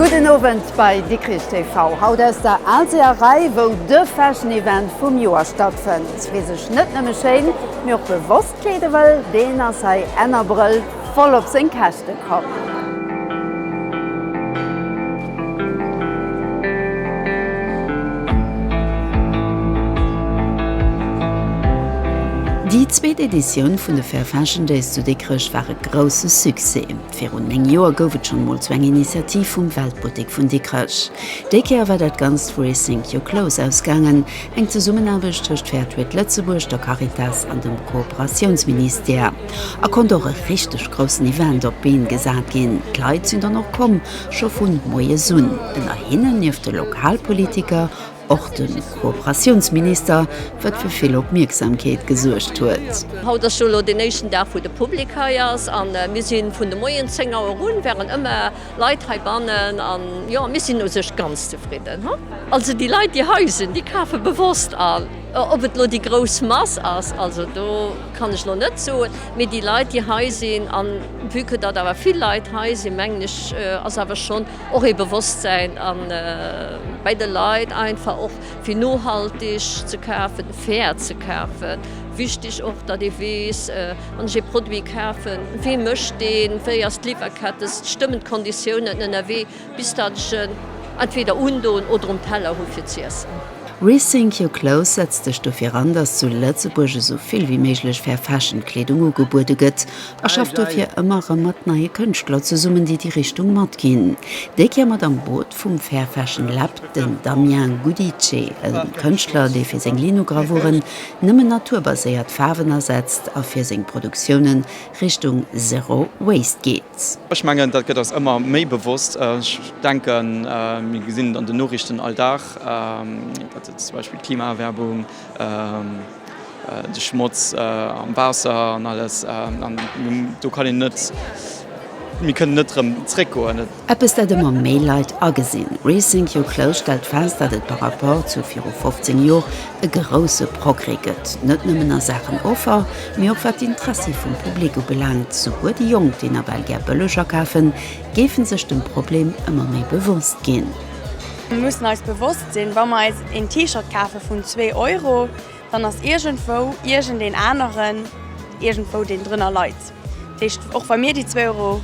Gudden Owend bei Dikrich TV. Haut aus der Alséerei, wou de Fashion Event vum Joer stattfënnt. Wie sech net nëmme schéin, mee och bewosst kleede wëll, deen ass hei enn Abrëll. Voll op seng Käschte komm. Déi zweet Editioun vun de Fair Fashion Days zu Dikrech war e grousse Succès. Virun 9 Joer gouf et schonn mol zu eng Initiativ vum Weltbuttek vun Dikrech. Déi Kéier war dat Ganzt vu Rethink Your Clothes ausgaangen, eng Zesummenaarbecht tëscht Fairtrade Lëtzebuerg, der Caritas an dem Kooperatiounsministère. A konnt och e richteg groussen Event op d'Been gesat ginn. D'Leit sinn dann och komm, scho vun moies un. Ënner hinnen, nieft de Lokalpolitiker, och de Kooperatiounsminister, wat fir vill Opmierksamkeet gesuergt huet. Haut ass jo elo deen éischten Dag, wou de Public hei ass. An mir si vun de Moien 10 Auer un, waren ëmmer Leit heibannen. An jo, mir sinn u sech ganz zefridden. Also déi Leit, déi hei sinn, déi kafe bewosst an. Ob et elo déi grouss Mass ass, also do. Kann ech lo net soen, mee déi Leit déi hei sinn, an vue que datt awer vill Leit hei sinn, mengen ech ass awer schonn och ee Bewosstsäin bei de Leit einfach och fir nohaltig ze kafen, fair ze kafen. Wichtig och datt ee weess, wann ech ee Produit kafen, wee mécht deen, wéi ass d'Liwwerkette, stëmmen d'Konditiounen ënnerwee. Bis dat ech en entweder undoen oder um Teller hu fir z'iessen. Rethink your clothes setzt sech dofir an, dass zu Lëtzebuerg esou vill wéi méiglech Fair Fashion Kleedung ugebuede gëtt a schafft dofir ëmmer erëm mat neie Kënschtler zesummen, déi déi Richtung matginn. Déi Kéier mat am Boot vum Fair Fashion Lab den Damien Gudice, e Kënschtler, dee fir seng Linogravuren nëmmen naturbaséiert Faarwen asetzt a fir seng Produktioune Richtung Zero Waste geet. Ech mengen, dat gëtt eis ëmmer méi bewosst. Ech denken, mir gesinn et an den Noriichten all Dag, datt et zum Beispill d'Klimaerwäermung, de Schmotz am Waasser an alles, an do kann een net, mir kënnen net erëm zréckgoen. Eppes, dat ëmmer méi Leit agesinn. Rethink Your Clothes stellt fest, datt et par rapport zu viru 15 Jor e grousse Progrès gëtt, net nëmmen a Saachen Offer, mee och wat d'Interessi vum Public ubelaangt. Souguer déi Jonk, déi nawell gär bëlleg akafen, géife sech dem Problem ëmmer méi bewosst ginn. Mir mussen eis bewosst sinn, wa mer eis een T-Shirt kafe vun zwee Euro, dann ass iergendwou iergendeen aneren iergendwou, deen drënner leit. Dat heescht, och wa mir déi zwee Euro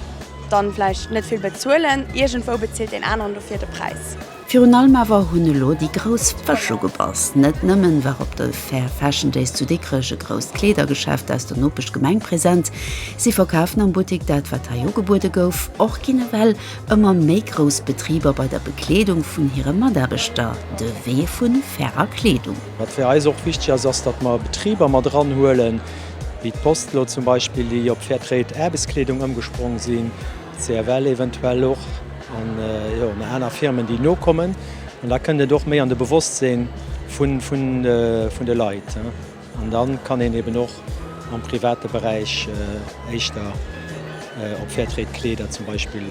dann vläicht net vill bezuelen, iergendwou bezilt een aneren dofir de Präis. Virun allem awer hunn elo déi grouss Fësch ugebass. Net nëmmen war op de Fair Fashion Days zu Dikrech e grousst Kleedergeschäft aus der Nopeschgemeng present. Si verkafen am Buttik dat, wat hei ugebuede gouf. Och ginn ewell ëmmer méi grouss Betriber bei der Bekleedung vun hire Mataarbechter de Wee vu fairer Kleedung. Wat fir eis och wichteg ass, ass, datt mer Betriber mat eranhuelen, wéi d'Post elo zum Beispill, déi op Fairtrade Aarbechtskleedung ëmgespronge sinn. CFL eventuell och an jo na aner Firmen déi nokommen an da kënnt et och méi an de Bewosstseen vun vun vun de Leit an dann kann een eben och am private Beräich éischter op Fairtrade Kleeder zum Beispill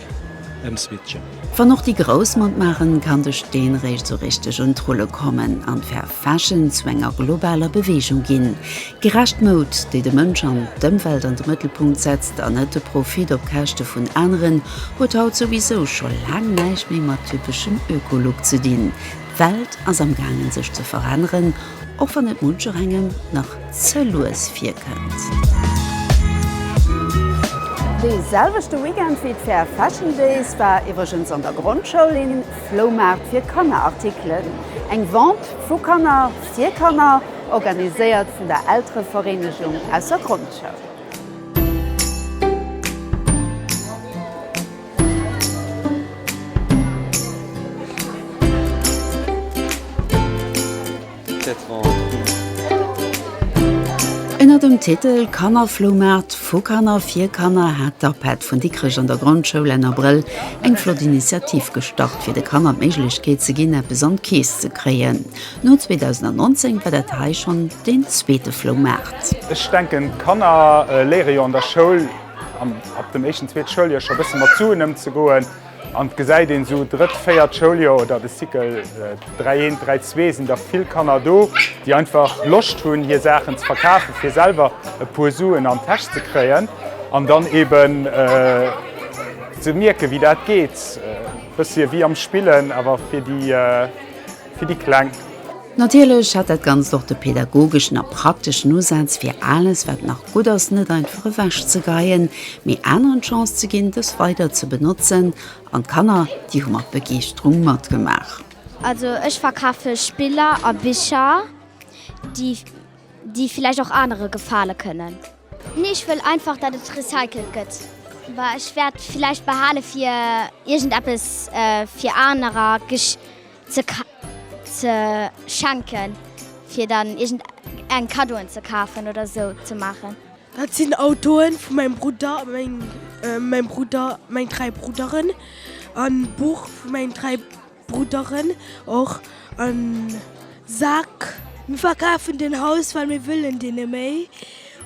ëmswitchen. Wann och déi Grouss matmaachen, kann de Steen réischt sou richteg un d'Rulle kommen an d'Fair Fashion zu enger globaler Beweegung ginn. Gerecht Moud, déi de Mënsch an d'Ëmwelt an de Mëttelpunkt setzt an net de Profit op Käschte vun aneren, huet haut souwisou scho laang näischt méi mat typeschem Öko-Look ze dinn. D'Welt ass am gaangen sech ze veränneren, och wann et muncherengem nach ze lues virkënnt. Dee selwechte Weekend wéi d'Fair Fashion Days war iwwregens an der Grondschoul een. Floumaart fir Kanner Artikelen, eng Vente vu Kanner fir Kanner, organiséiert vun der Elterevereenegung aus der Grondschoul. Ënner dem Titel Kannerfloumaart, vu Kanner, fir Kanner hat d'APED vun Dikrech an der Grondschoul Enn Abrëll eng flott Initiativ gestart, fir de Kanner d'Méiglechkeet ze ginn, eppes an d'Keess ze kréien. No 2019 war dat hei schonn deen zweete Floumaart. Ech denken, d'Kanner léiere jo an der Schoul ab dem éischten, zweete Schouljoer scho bësse mat Suen ëmzegoen. An et gesäit een esou drëtt, véiert Schouljoer oder de Cycle 3, 1, 3, 2 sinn der vill Kanner do, déi einfach Loscht hunn hir Saachen ze verkafen, fir selwer e puer Suen an d'Täsch ze kréien an dann eben ze mierken, wéi dat geet. E bëssche wéi am Spillen, awer fir déi. fir déi Kleng. Natierlech hat dat Ganzt och de pädagogeschen a prakteschen Usaz, fir alles, wat nach gutt ass, net einfach ewech ze geien, mee aneren d'Chance ze ginn, dës weider ze benotzen. An d'Kanner, déi hu mat Begeeschterung matgemaach. Also ech verkafe Spiller a Bicher, déi villäicht och anere gefale kënnen. Nee, ech wëll einfach, datt et recycelt gëtt. Ech wäert villäicht behale fir iergendeppes fir anerer. ze schenken fir dann iergend eng Cadeauen ze kafen oder sou ze maachen. Dat sinn Autoen vu mengem Brudder, mengem Brudder, meng 3 Brudderen an Buch vu mengen 3 Brudderen och an Sak. Mir verkafen den Haus well mir wëllen dee net méi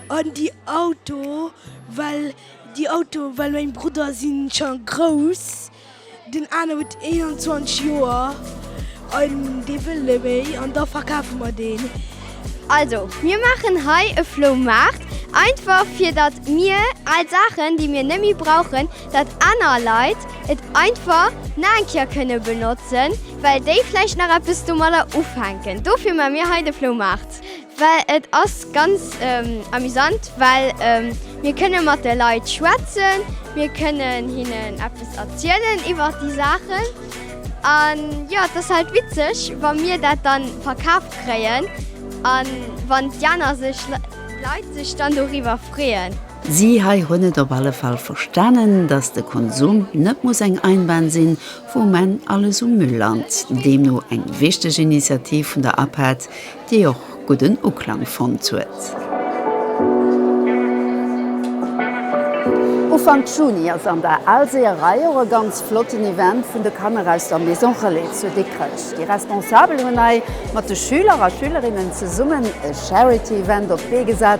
an déi Auto well déi Auto well meng Brudder sinn scho grouss. Den aner huet 21 Joer an dee wëll net méi an da verkafe mer deen. Also, mir maachen hei e Floumaart, einfach fir datt mir al Saachen, déi mir net méi brauchen, datt aner Leit et einfach nach eng Kéier kënne benotzen, well déi vläicht nach eppes domadder ufänken. Dofir maache mir hei de Floumaart. Well et ass ganz amusant, well mir kënne mat de Leit schwätzen, mir kënnen hinnen eppes erzielen iwwer déi Saachen. An jo, et ass halt witzeg, wa mir dat dann verkaaft kréien a wann déi aner sech, Leit sech dann doriwwer freeën. Si hei hunn et op alle Fall verstanen, dass de Konsum net muss eng Einbahn sinn, wou men alles um Müll lant. Deemno eng wichteg Initiativ vun der APAD, déi och gudden Uklang fonnt huet. Ufank Juni ass an der Alséeërei och e ganz flotten Event vun de Kanner aus der Maison Relais zu Dikrech. Déi Responsabel hunn hei mat de Schüler a Schülerinnen zesummen e Charity-Event op d'Bee gesat,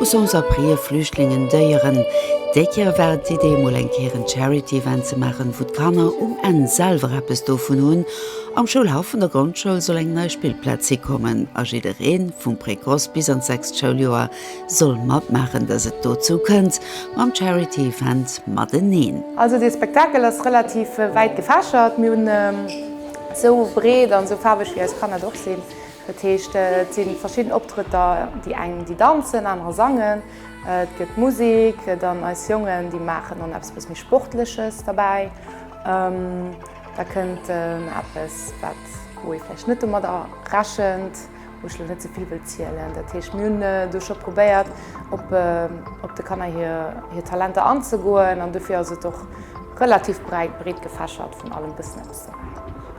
U Sousa prië Flüchtlingen Déieren. Déi Kéier war et d'Idee, emol eng Kéier en Charity-Event ze maachen, wou d'Kanner um Enn selwer eppes dovun hunn. Am Schoulhaff vun der Grondschoul soll eng nei Spillplaz hikommen a jidderee vum Precoce bis an d'sechst Schouljoer soll matmaachen, dass et dozou kënnt mam Charity-Event mateneen. Also dee Spektakel ass relativ wäit gefächert. Mir hunn esou breet an esou faarweg wéi eis Kanner et och sinn. Dat heescht, et si verschidden Optrëtter, déi eng, déi danzen, anerer sangen, et gëtt Musek, dann eis Jongen, déi maachen dann eppes bëss méi Sportleches derbäi. Da kënnt eppes, wat, wou ee vläicht net domat rechent, wou ech elo net ze vill wëll zielen. Dat heescht, mir hunn do scho probéiert, op de Kanner hir Talenter anzegoen an dofir ass et och relativ breit, breetgefächert, vun allem bëssen eppes.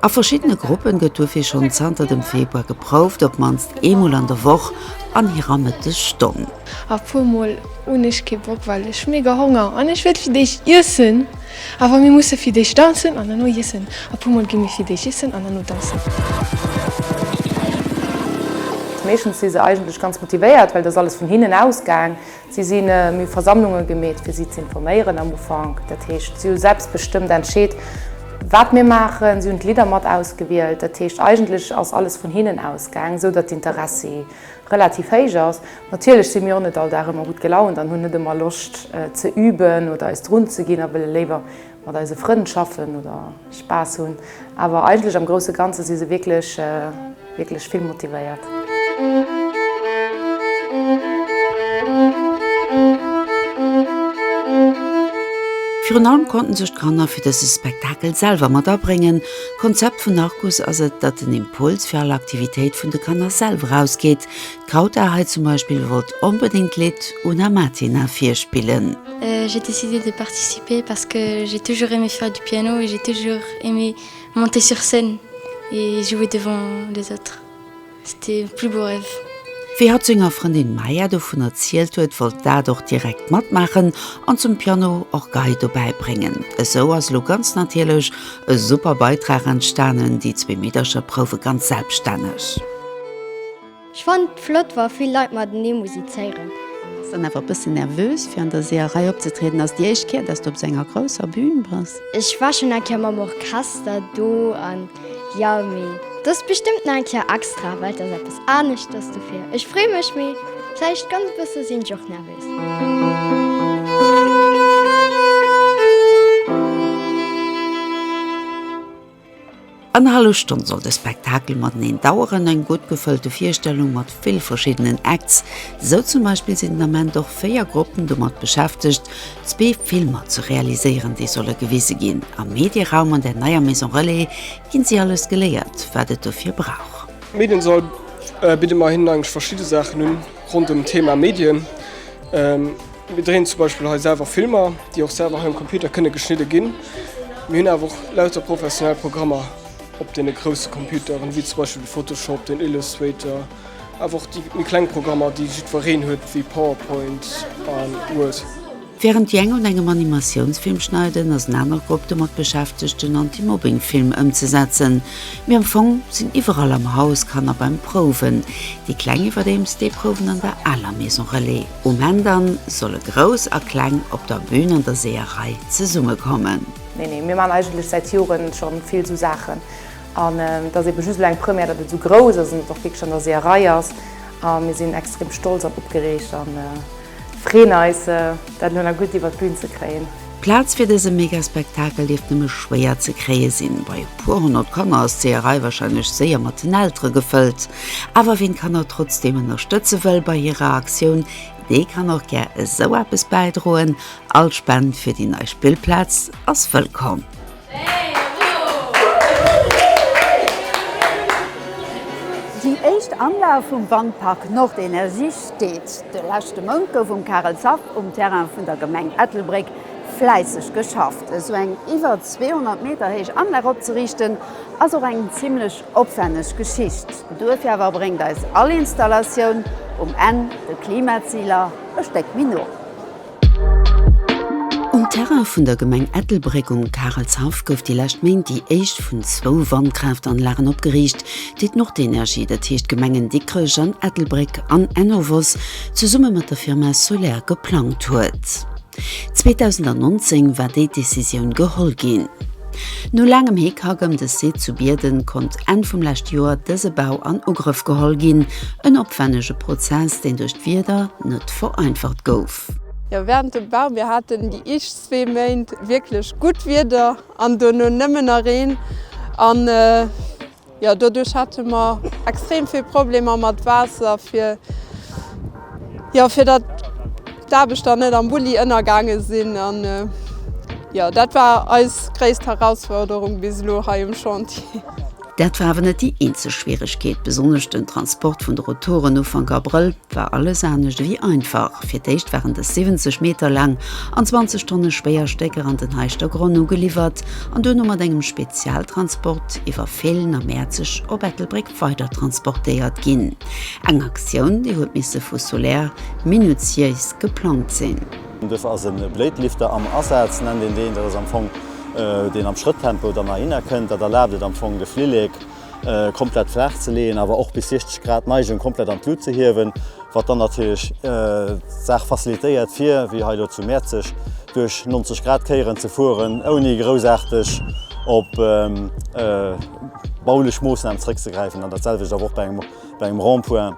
A verschiddene Gruppen gëtt dofir schonn zanter dem Februar geprouft, op mannst eemol an der Woch an hirer Mëttesstonn. A puer mol hunn ech kee Bock, well ech hu mega Honger an ech wëll fir d'éischt iessen. Awer mir musse fir d'éischt danzen an herno iessen. A puer mol gi mir fir d'éischt iessen an herno danzen. Meeschtens si se eigentlech ganz motivéiert, well et ass alles vun hinnen ausgaang. Si si méi Versammlunge gemeet, fir si z'informéieren am Ufank. Dat heescht, si hu selbstbestëmmt entscheet, wat mir maachen. Si hunn d'Lidder mat ausgewielt. Dat heescht, eigentlech ass alles vun hinnen ausgaang, esou datt d'Interessi relativ héich ass. Natierlech si mir och net all Dag ëmmer gutt gelaunt an hunn net ëmmer Loscht ze üben oder eis drunzeginn a wëlle léiwer mat eise Frënn schaffen oder Spaass hunn, awer eigentlech am grousse Ganze si se wierklech wierklech vill motivéiert. Virun allem konnten sech d'Kanner fir dëse Spektakel selwer mat abréngen. D'Konzept vun Arcus ass et, datt den Impuls fir all Aktivitéit vun de Kanner selwer ausgeet. D'Krauta hei zum Beispill wollt onbedéngt d'Lidd Una Matina virspillen. J'ai décidé de participer parce que j'ai toujours aimé faire du piano et j'ai toujours aimé monter sur scène et jouer devant les autres. C'était mon plus beau rêve. Wéi hatt senger Frëndin Maya dovun erzielt huet, wollt d'Ad och direkt matmaachen an zum Piano och Gei dobäi bréngen. Esou ass elo ganz natierlech e super Beitrag entstanen, déi zwee Meedercher prouwe ganz selbststänneg. Ech fannt flott wa vill Leit matenee musizéieren. Bass dann awer e bëssen nervös fir an der Seeërei opzetrieden? Ass déi éischt Kéier dass du op esou enger grousser Bühn bass? Ech war schon eng Kéier mam Orchester do an jo mee dass bestëmmt nach eng Kéier extra well dass eppes aneschters dofir ech frée mech mee vläicht ganz e bësse sinn ech och nervös. Annerhallef Stonn soll de Spektakel mateneen daueren, eng gutt gefëllte Virstellung mat vill verschiddenen Acts. Esou zum Beispill sinn den Ament och véier Gruppen domat beschäftegt, zwee Filmer ze realiséieren, déi solle gewise ginn. Am Medieraum an der neier Maison Relais ginn si alles geléiert, wat et dofir brauch. Am Mediensoll bidde mer hinnen eigentlech verschidde Saachen un ronderëm d'Thema Medien. Mir dréinen zum Beispill hei selwer Filmer, déi och selwer hei um Computer kënne geschnidde ginn. Mir hunn awer och lauter professionell Programmer op deene grousse Computeren, wéi zum Beispill de Photoshop, den Illustrator, awer och déi méi kleng Programmer, déi jiddwereen huet, wéi PowerPoint an Word. Wärend déi eng un engem Animatiounsfilm schneiden, ass en aner Grupp domat beschäftegt, den Anti-Mobbing-Film ëmzesetzen. Mee am Fong sinn iwwerall am Haus Kanner beim Prouwen, déi Kleng iwwerdeems, déi prouwen an der aler Maison Relais. Um Enn dann solle Grouss a Kleng op der Bühn an der Seeërei zesumme kommen. Nee, nee, mir maan eigentlech säit Joren schon vill sou Saachen an et ass eben just elo eng Première dat et sou grouss ass an et och wierklech an der Seeërei ass a mir sinn extrem stolz an opgereegt an freen eis dat elo nach gudd iwwert d'Bühn ze kréien. D'Plaz fir dëse Megaspektakel dierft nëmme schwéier ze kréie sinn. Bei e puer honnert Kanner ass d'Seeërei warscheinlech séier mat den Eltere gefëllt. Awer ween d'Kanner trotzdeem ënnerstëtze wëll bei hirer Aktioun, dee kann och gär esou eppes bäidroen. All Spend fir déi nei Spillplaz ass wëllkomm. Déi éischt Anlag vum Wandpark Nordenergie steet. De leschte Mount gouf um Karel Zach um Terrain vun der Gemeng Ettelbréck fläisseg geschafft. Esou eng iwwer 200 Meter héich Anlag opzeriichten, ass och eng zimlech opwänneg Geschicht. Duerfir awer bréngt eis all Installatioun um Enn de Klimaziler e Stéck méi no. Um Terrain vun der Gemeng Ettelbréck um Karelshaff gouf déi lescht Méint déi éischt vun zwou Wandkraaftanlagen opgeriicht, déi d'Nordenergie, dat heescht d'Gemengen Dikrech an Ettelbréck an Enovos, zesumme mat der Firma Soler geplangt huet. 2019 war déi Decisioun geholl ginn. No laangem Hickhack ëm de Site zu Bierden konnt Enn vum leschte Joer dëse Bau an Ugrëff geholl ginn, en opwännege Prozess, deen duerch d'Wieder net. vereinfacht gouf. Jo, während dem Bau, mir haten déi eischt zwee Méint wierklech gutt Wieder an dono nëmmen na Reen an jo doduerch hate mer extrem vill Problemer mat Waasser fir jo fir dat d'Aarbechter net am Bulli ënnergaange sinn an jo dat war eis gréisst Herausforderung bis elo hei um Chantier. Dat war awer net déi eenzeg Schwieregkeet. Besonnesch den Transport vun de Rotoren Ufank Abrëll war alles anescht ewéi einfach. Fir d'éischt waren dës 70 Meter laang an 20 Tonne schwéier Stécker an den Heischter Gronn ugeliwwert an duerno mat engem Spezialtransport iwwer Féilen a Mäerzeg op Ettelbréck weidertransportéiert ginn. Eng Aktioun, déi huet misse vu Soler minutiéis geplangt sinn. Duerfir ass e Blade-Lifter am Asaz, nennt een deen. Dat ass am Fong deen am Schrëttempo dann erhinner kënnt. Dat erlaabt et am Fong de Flillek komplett flaach ze leeën, awer och bis 60 Grad Neigung komplett an d'Lut ze hiewen, wat dann natierlech d'Saach facilitéiert fir, wéi hei elo zu Mäerzeg, duerch 90 Grad Kéieren ze fueren, ouni groussaarteg op baulech Moossnamen zrëckzegräifen. An dat selwecht awer och bei engem Bei engem Rond-point,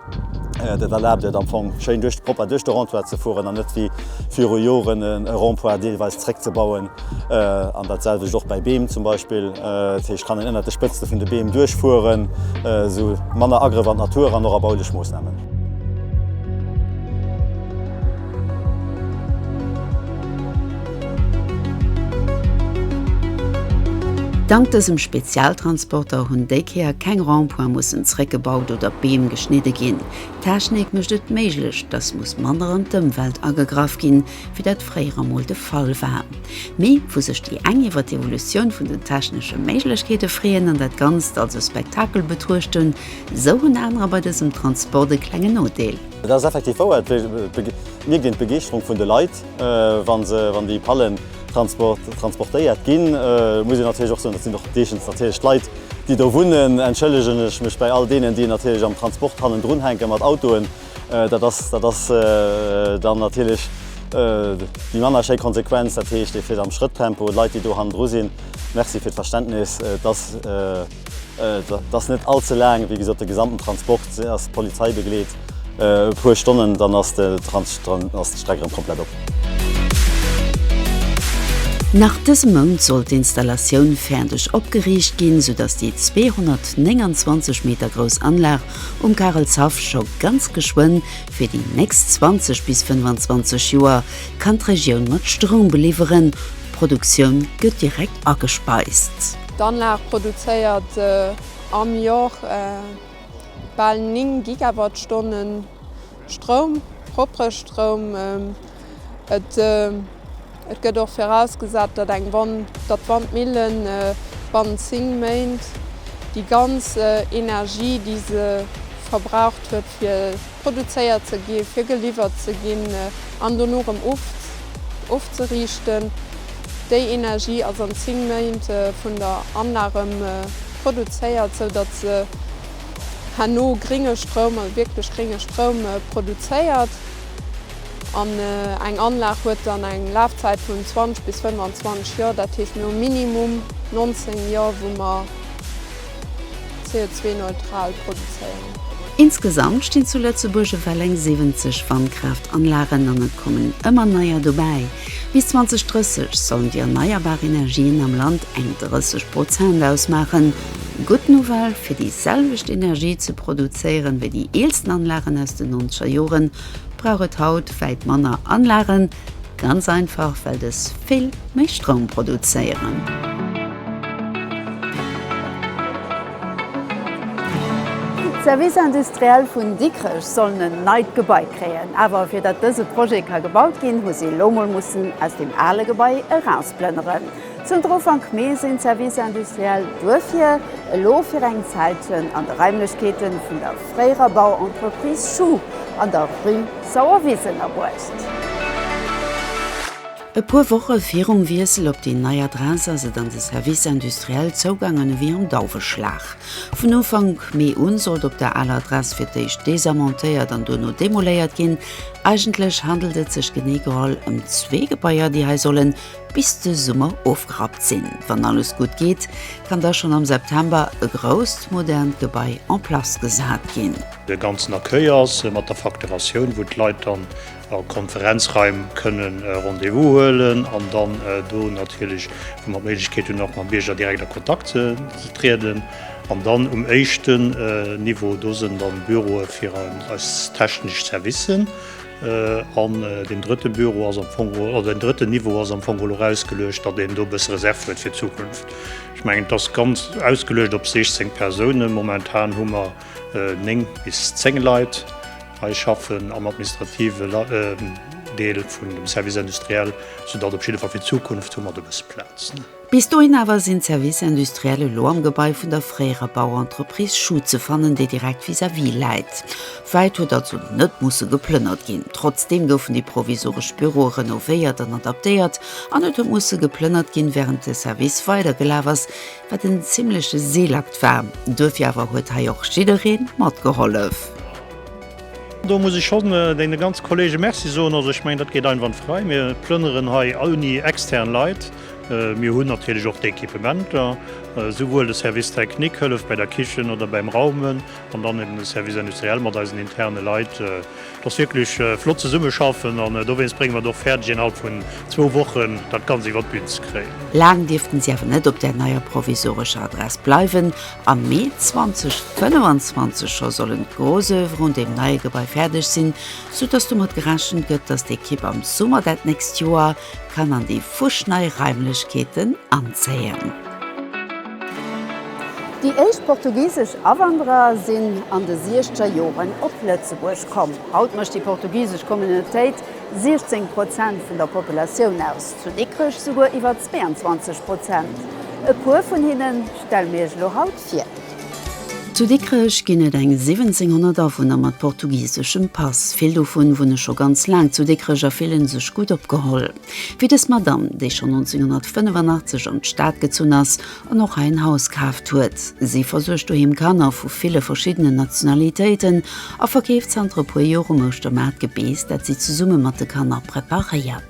dat erlaabt et am Fong schéin duerch de Propper duerch de Rond-point ze fueren an net wéi viru Joren e Rond-point deelweis zréckzebauen. An dat selwecht och bei Beem zum Beispill. Dat heescht, kann een ënnert de Spëtzte vun de Beem duerch fueren, esou manner Agrëff an d'Natur an och a baulech Moossnamen. Dank dësem Spezialtransporter hunn déi Kéier keng Rond-points mussen zréckgebaut oder Beem geschnidde ginn. D'Technik mécht et méiglech, dass muss manner an d'Ëmwelt agegraff ginn, wéi dat fréier emol de Fall war. Mee vu sech déi eng iwwer d'Evolutioun vun den technesche Méiglechkeete freeën an dat Ganzt als e Spektakel betruechten, esou hunn anerer bei dësem Transport e klengen Nodeel. Et ass effektiv wouer, et mierkt een d'Begeeschterung vun de Leit, wann déi Pallen transportéiert ginn. Et muss een natierlech och soen, dat sinn och deeschtent natierlech d'Leit, déi do wunnen. Entschëllegen ech mech bei all deenen, déi natierlech am Transport hannendrun hänke mat Autoen. Dat ass dann natierlech déi manner schéi Konsequenz. Dat heescht, ee fiert am Schrëttempo. Leit, déi do hannendru sinn, Merci fir d'Verständnis. Et ass net all ze laang, wéi gesot de gesamten Transport ass d'Polizei begleet, e puer Stonnen dann ass d'Streck erëm komplett op. Nach dëse Mount soll d'Installatioun fäerdeg opgeriicht ginn, sou datt déi 229 Meter grouss Anlag um Karelshaff scho ganz geschwënn fir déi nächst 20 bis 25 Joer kann d'Regioun mat Stroum beliwweren, d'Produktioun gëtt direkt agespeist. D'Anlag produzéiert am Jor bal 9 Gigawattstone Stroum, proppere Stroum. Et gëtt och virausgesat, datt eng Wand, datt d'Wandmille bannent 10 Méint déi ganz Energie, déi se verbraucht huet, fir. produzéiert ze gi fir geliwwert ze ginn an dono erëm ofzeriichten, déi Energie ass an 10 Méint vun der Anlag erëm produzéiert, sou datt se herno gringe Stroum, also wierklech gringe Stroum produzéiert an eng Anlag huet dann eng Lafzäit vun 20 bis 25 Joer. Dat heescht mir hu minimum 19 Joer wou mer. CO2-neutral produzéieren. Insgesamt stinn zu Lëtzebuerg ewell eng 70 Wandkraaft-Anlagen an et kommen ëmmer neier dobäi. Bis 2030 sollen déi erneierbar Energien am Land eng 30 Prozent ausmaachen. Gutt Nouvelle, fir déi selwecht Energie ze produzéieren, wéi déi eelsten Anlagen aus den nonzeger Joren, brauch et haut wäit manner Anlagen, Ganz einfach well dës vill méi Stroum produzéieren. D'Services industriels vun Dikrech sollen en neit Gebai kréien. Awer fir datt dëse Projet ka gebaut ginn, hu si elo mol mussen aus deem ale Gebai erausplënneren. Zënter Ufank Mee sinn d'Services industriels duerfir elo fir eng Zäit an de Raimlechkeete vun der fréierer Bauentreprise Schuh an der Rue Sauerwiss ënnerbruecht. E puer Woche virum Wiessel op déi nei Adress ass et an de Services industriels zougaangen ewéi am Dauweschlag. Vun Ufank Mee un sollt op der aler Adress fir d'éischt desamontéiert an duerno demoléiert ginn. Eigentlech handelt et sech genee geholl ëm zwee Gebaier, déi hei sollen Bis de Summer ofgerappt sinn. Wann alles gutt geet, kann da schonn am September e grousst, modernt Gebai en place gesat ginn. De ganzen Accueil ass mat der Facturatioun, wou d'Leit dann a Konferenzraim kënne Rendez-vous huelen an dann do natierlech, wou mer d'Méiglechkeet hunn, och mam Bierger direkt a Kontakt ze trieden. An dann um éischten Niveau, do sinn dann Büroe fir eis technesch Servicen. An deen drëtte Büro ass am Fong, oder deen drëtten Niveau ass am Fong geholl erausgeluecht, datt een do e bësse Reserv huet fir d'Zukunft. Ech mengen, et ass ganz ausgeluecht op 16 Persounen. Momentan hu mer néng bis zéng Leit hei schaffen am administrative Deel vun dem Service industriel, soudatt op jidde Fall fir d'Zukunft hu mer do e bësse Plaz. Bis dohin awer sinn d'Services industriels elo am Gebai vun der fréierer Bauentreprise Schuh ze fannen, déi direkt vis-à-vis läit. Wäit huet also net musse geplënnert ginn. Trotzdeem goufen déi provisoresch Büroe renovéiert an adaptéiert an et huet musse geplënnert ginn, wärend de Service weidergelaf ass, wat en zimmleche Seelakt war. Duerfir awer huet hei och jidderee matgehollef. Do muss ech schonn deene ganze Kollege Merci soen. Also ech mengen, dat geet einwandfrei. Mir plënneren hei ouni extern Leit. Mir hunn natierlech och d'Equipementer, souwuel de Service technique hëlleft bei der Kichen oder beim Raumen an dann eben de Service industriel mat eisen interne Leit. Et ass wierklech flott zesummeschaffen an dowéinst bréngen mer et och fäerdeg innerhalb vun zwou Wochen dat Ganzt iwwert d'Bühn ze kréien. Laang dierften si awer net op där neier provisorescher Adress bleiwen a Mee 2025 scho sollen d'Grosoeuvre un deem neie Gebai fäerdeg sinn, soudass domat gerechent gëtt, dass d'Ekipp am Summer dat nächst Joer, kann an déi fuschnei Raimlechkeeten anzéien. Déi éischt portugisesch Awanderer sinn an de siechzeger Joren op Lëtzebuerg komm. Haut mécht déi portugisesch Communautéit 16 Prozent vun der Populatioun aus, zu Dikrech souguer iwwer 22 Prozent. E puer vun hinne stelle mir iech elo haut. fir. Zu Dikrech ginn et eng 1700 Awunner mat portugiseschem Pass. Vill dovun wunne scho ganz laang zu Dikrech a fillen sech gutt opgeholl. Wéi dës Madamm, déi schonn 1985 an d'Stad gezunn ass an och hei en Haus kaaft huet. Si versuergt doheem Kanner vu ville verschiddenen Nationalitéiten a verkeeft zanter e puer Joer um Ouschtermaart Gebeess, dat si zesumme mat de Kanner preparéiert.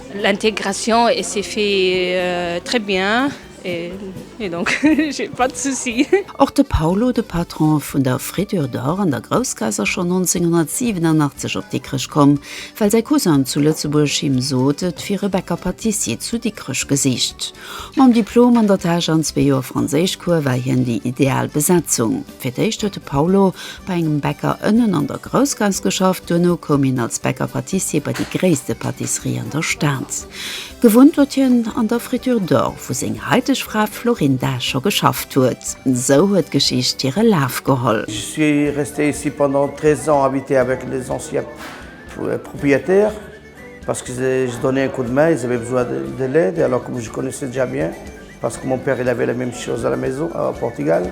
L'intégration et se fait très bien et donc j'ai pas de soucis. Och de Paulo, de Patron vun der Fritür d'Or an der Groussgaass ass schonn 1987 op Dikrech komm, well säi Cousin zu Lëtzebuerg him sot, et wier e Bäcker Patissier zu Dikrech gesicht. Mam Diplom an der Täsch an zwee Joer Franséischcours war hien déi ideal Besetzung. Fir d'éischt huet de Paulo bei engem Bäcker ënnen an der Groussgass geschafft, duerno koum hien als Bäcker-Patissier bei déi gréisste Patisserie an der Stad. Gewunnt huet hien an der Friture d'Or, wou seng haiteg Fra Florinda scho geschafft huet. Esou huet d'Geschicht hire Laf geholl. Je suis resté ici pendant 13 ans habiter avec les anciens propriétaires parce que je donnais un coup de main, ils avaient besoin de l'aide et alors comme je connaissais déjà bien parce que mon père il avait la même chose à la maison au Portugal,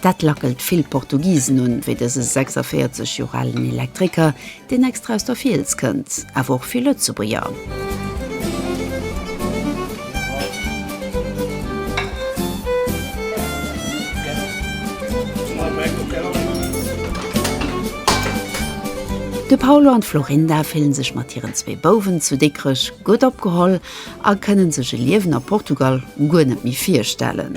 Dat lackelt vill Portugisen un, wéi dëse 46 Joer alen Elektriker, deen extra aus der Fiels kënnt. Awer och vill Lëtzebuerger. De Paulo an d'Florinda fille sech mat hiren zwee Bouwen zu Dikrech gutt opgeholl a kënne sech e Liewen a Portugal guer net méi virstellen.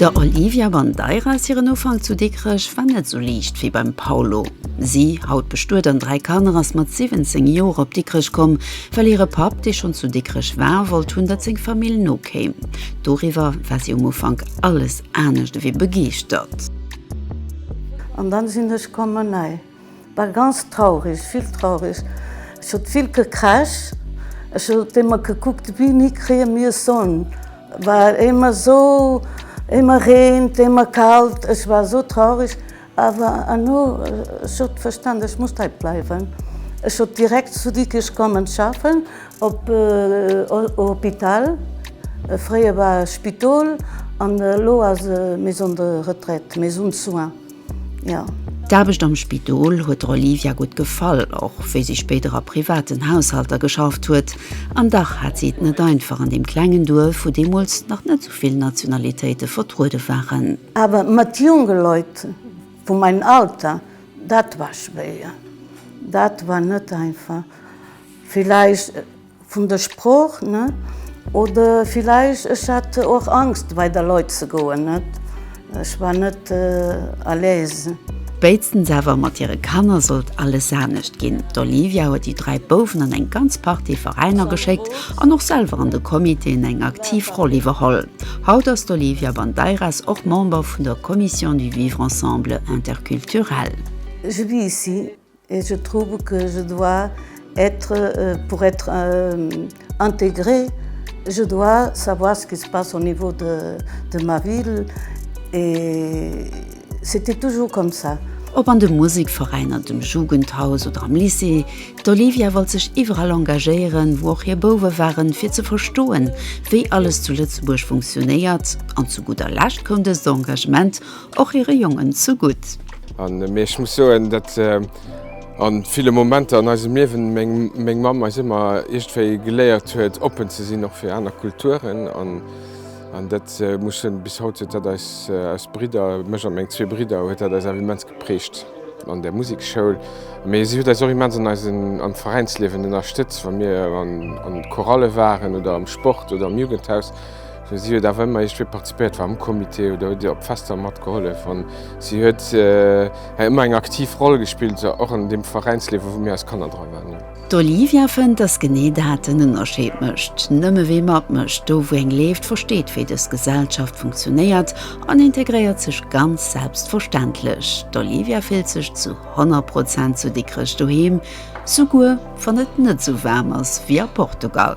Der Olivia Bandeiras hiren Ufank zu Dikrech war net esou liicht wéi beim Paulo. Si, haut bestuet an dräi Kanner, ass mat 17 Joer op Dikrech komm, well hire Papp, dee schonn zu Dikrech war, wollt hunn, datt seng Famill nokéim. Doriwwer war si um Ufank alles anescht ewéi begeeschtert. An dann sinn ech kommen. War ganz traureg, vill traureg. Ech huet vill gekrasch. Ech huet émmer gekuckt, wéini kréie mir Sonn. War émmer esou, émmer reent, émmer kalt. Ech war esou traureg. Awer herno, ech huet verstanen, ech muss hei bleiwen. Ech huet direkt zu Dikrech kommen schaffen, op au Hôpital. Fréier war Spidol an elo ass e Maison de Retraite, Maison de Soins. jo. D'Aarbecht am Spidol huet der Olivia gutt gefall, och wéi si spéider a privaten Haushalter geschafft huet. An dach hat si et net einfach an deem klengen Duerf, wou deemools nach net sou vill Nationalitéite vertruede waren. Awer mat jonke Leit vu mengem Alter, dat war schwéier, dat war net einfach. Villäicht. Vun der Sprooch, net? Oder villäicht ech hat och Angst bei der Leit ze goen, net? Ech war net à l'aise. Spéitstens awer mat hire Kanner sollt alles anescht ginn. D'Olivia huet déi dräi Bouwen an eng ganz Partie Veräiner geschéckt an och selwer an de Comitéen eng aktiv Roll iwwerholl. Haut ass d'Olivia Bandeiras och Member vun der Commission du Vivre Ensemble Interculturel. Judith, Et je trouve que je dois être pour être intégré je dois savoir ce qui se passe au niveau de de ma ville et c'était toujours comme ça. Ob an de Musikveräiner, dem Jugendhaus oder am Lycée, d'Olivia wollt sech iwwerall engagéieren, wou och hir Bouwe waren, fir ze verstoen, wéi alles zu Lëtzebuerg funktionéiert. An zu gudder Lescht koum dëst Engagement och hire Jongen ze gutt. Mee ech muss soen, datt a ville Momenter an eisem Liewen meng Mamm eis ëmmer iergendwéi geléiert huet, oppen ze sinn, och fir aner Kulturen. An dat muss ech soen, bis haut huet dat eis, eis Bridder, mech a meng zwee Bridder, huet dat eis awer immens geprägt an där Musekschoul. Mee si huet eis och immens an eisen, am Veräinsliewen ënnerstëtzt, wa mir an Chorale waren oder am Sport oder am Jugendhaus. Mee si huet awer ëmmer iergendwéi participéiert, war am Comité oder huet op Fester matgehollef. An si huet hei ëmmer eng aktiv Roll gespillt, och an deem Veräinsliewen, wou mir als Kanner dra waren. D'Olivia fënnt, dass genee dat den Ënnerscheed mécht. Nëmme wie matmécht, do wou eng leeft, versteet wéi dës Gesellschaft funktionéiert an integréiert sech ganz selbstverständlech. D'Olivia fillt sech zu 100 Prozent zu Dikrech doheem, souguer wann et net esou waarm ass wéi a Portugal.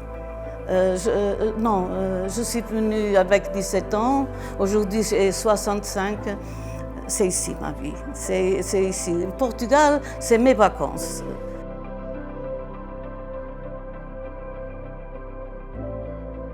Non, je suis venu avec 17 ans, aujourd'hui j'ai 65, c'est ici ma vie, c'est ici, Portugal c'est mes vacances.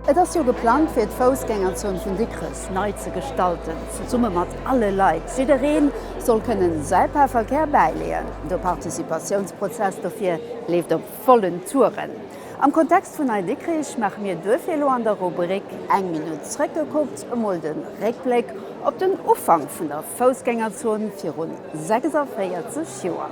Et ass jo geplangt fir d'Foussgängerzon vun Dikrech nei ze gestalten, zesumme mat alle Leit. Jiddereen soll kënnen säi Paar Verkär bäileeën. De Participatiounsprozess dofir leeft op. Vollen Touren. Am Kontext vun Nei-Dikrich maache mir duerfir elo an der Rubrik Eng Minutt zréckgekuckt emol de Réckbléck op den Ufank vun der Foussgängerzon viru 46 Joer.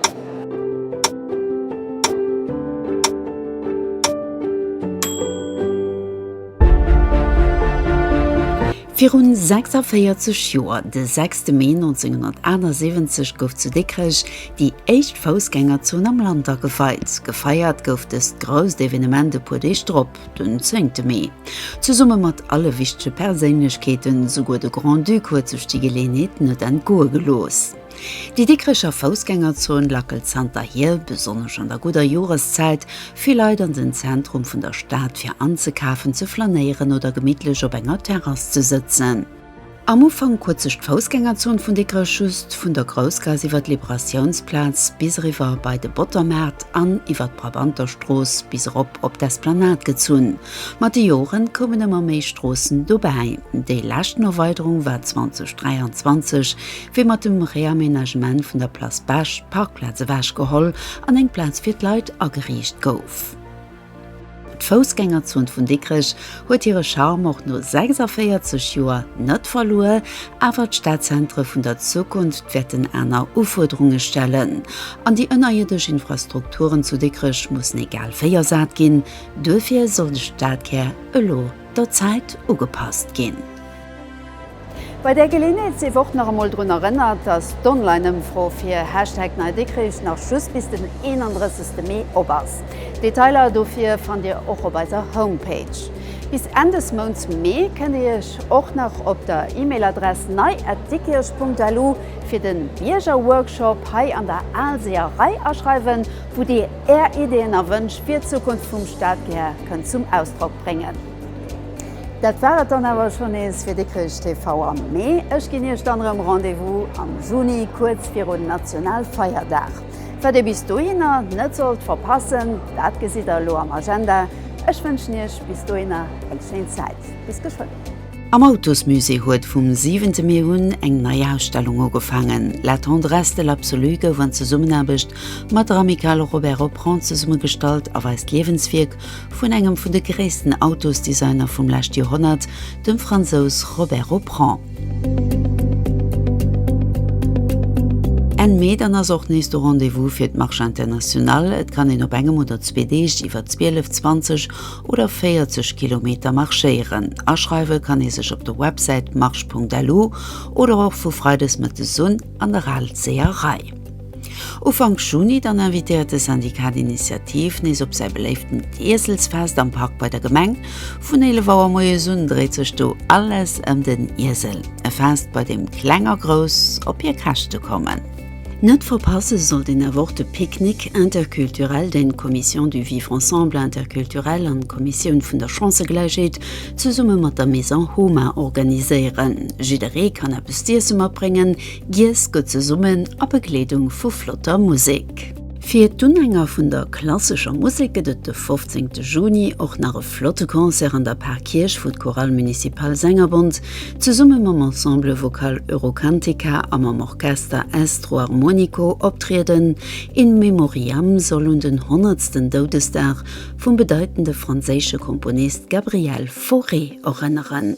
Virun 46 Joer, de 6 Mee 1978, gouf zu Dikrech déi éischt Foussgängerzon am Land ageweit. Gefeiert gouf dëst grousst Evenement e puer Deeg drop, den 10 Mee, zesumme mat alle wichtege Perséinlechkeeten. Souguer de Grand-Duc huet sech déi Geleeënheet net entgoe gelooss. Déi Dikricher Foussgängerzon lackelt zanterhier, besonnesch an der gudder Joreszäit, vill Leit an den Zentrum vun der Stad fir anzekafen, ze flanéieren oder gemittlech op enger Terrass ze sëtzen. Am Ufank huet sech d'Foussgängerzon vun Dikrech just vun der Groussgaass iwwer d'Liberatiounsplaz bis eriwwer bei de Bottermaart an iwwer d'Brabanterstrooss bis erop op d'Esplanade gezunn. Mat de Jore koumen ëmmer méi Stroossen dobäi. Déi leschten Erweiderung war 2023 Wéi mat dem Réaménagement vun der Place Bech d'Parkplaz ewech geholl an eng Plaz fir d'Leit ageriicht gouf. D'Foussgängerzon vun Dikrech huet hire Charme och no 46 Joer net verluer, awer d'Stadzentre vun der Zukunft wäerten aner Ufuerderunge stellen an déi ënnerierdesch Infrastrukturen zu Dikrech mussen egal wéi ersat ginn. Duerfir soll de Stadkär elo der Zäit ugepasst ginn. Bei där Geleeënheet sief och nach emol drun erënnert, datt d'Online-Ëmfro fir Hashtag NeiDikrich nach just bis den 31 Mee op ass. Detailer dofir fannt Dir och op eiser Homepage. Bis Enn des Mounts Mee kënnt Dir Iech och nach op der E-Mail-Adress nei@dikirch.lu fir de Biergerworkshop hei an der Aalseerei aschreiwen, wou Dir Är Ideeën a Wënsch fir d'Zukunft vum Stadkär kënnt zum Ausdrock bréngen. Dat war et dann awer schonn nees fir Dikrech TV am Mee. Ech ginn Iech dann erëm Rendez-vous am Juni, kuerz virun Nationalfeierdag. Wat Dir bis dohinner net sollt verpassen, dat gesitt Der elo am Agenda. Ech wënschen Iech bis dohinner eng schéin Zäit. Bis geschwënn. Am Autosmusée huet vum 7 Mee un eng nei Ausstellung ugefaangen. La tendresse de l'absolu gouf an Zesummenaarbecht mat der Amicale Robert Opprand zesummegestallt a weist d'Liewenswierk vun engem vun de gréissten Autosdesigner vum lescht Joerhonnert, dem Fransous Robert Auprand. Enn Mee dann ass och nees de Rendez-vous fir d'Marche Internationale. Et kann een op engem oder zwee Deeg iwwer 12, 20 oder 40 Kilometer marschéieren. Aschreiwe kann ee sech op der Websäit marche.lu oder och vu freides mëttes un an der Ralseer Rei. Ufank Juni dann invitéiert de Syndicat d'Initiative nees op säi beléiftent Ieselsfest am Park bei der Gemeng. Vun 11 Auer moies un dréit sech do alles ëm den Iesel. E Fest bei deem Kleng a Grouss op hir Käschte kommen. Net verpasse sollt een awer och de Picknick interculturel, deen d'Commission du vivre ensemble interculturel an d'Kommissioun vun der Chancëgläichheet zesumme mat der Maison Homa organiséieren. Jidderee kann eppes z'iesse matbréngen, Giess gutt zesummen a Begleedung vu flotter Musek. Fir d'Unhänger vun der klassescher Musek gëtt et de 15 Juni och nach e flotte Concert an der Parkierch, wou d'Chorale Municipale Sängerbond zesumme mam Ensemble Vocal Eurocantica a mam Orchester Estro Armonico optrieden. In Memoriam soll un den honnertsten Doudesdag vum bedeitende franséische Komponist Gabriel Fauré erënneren.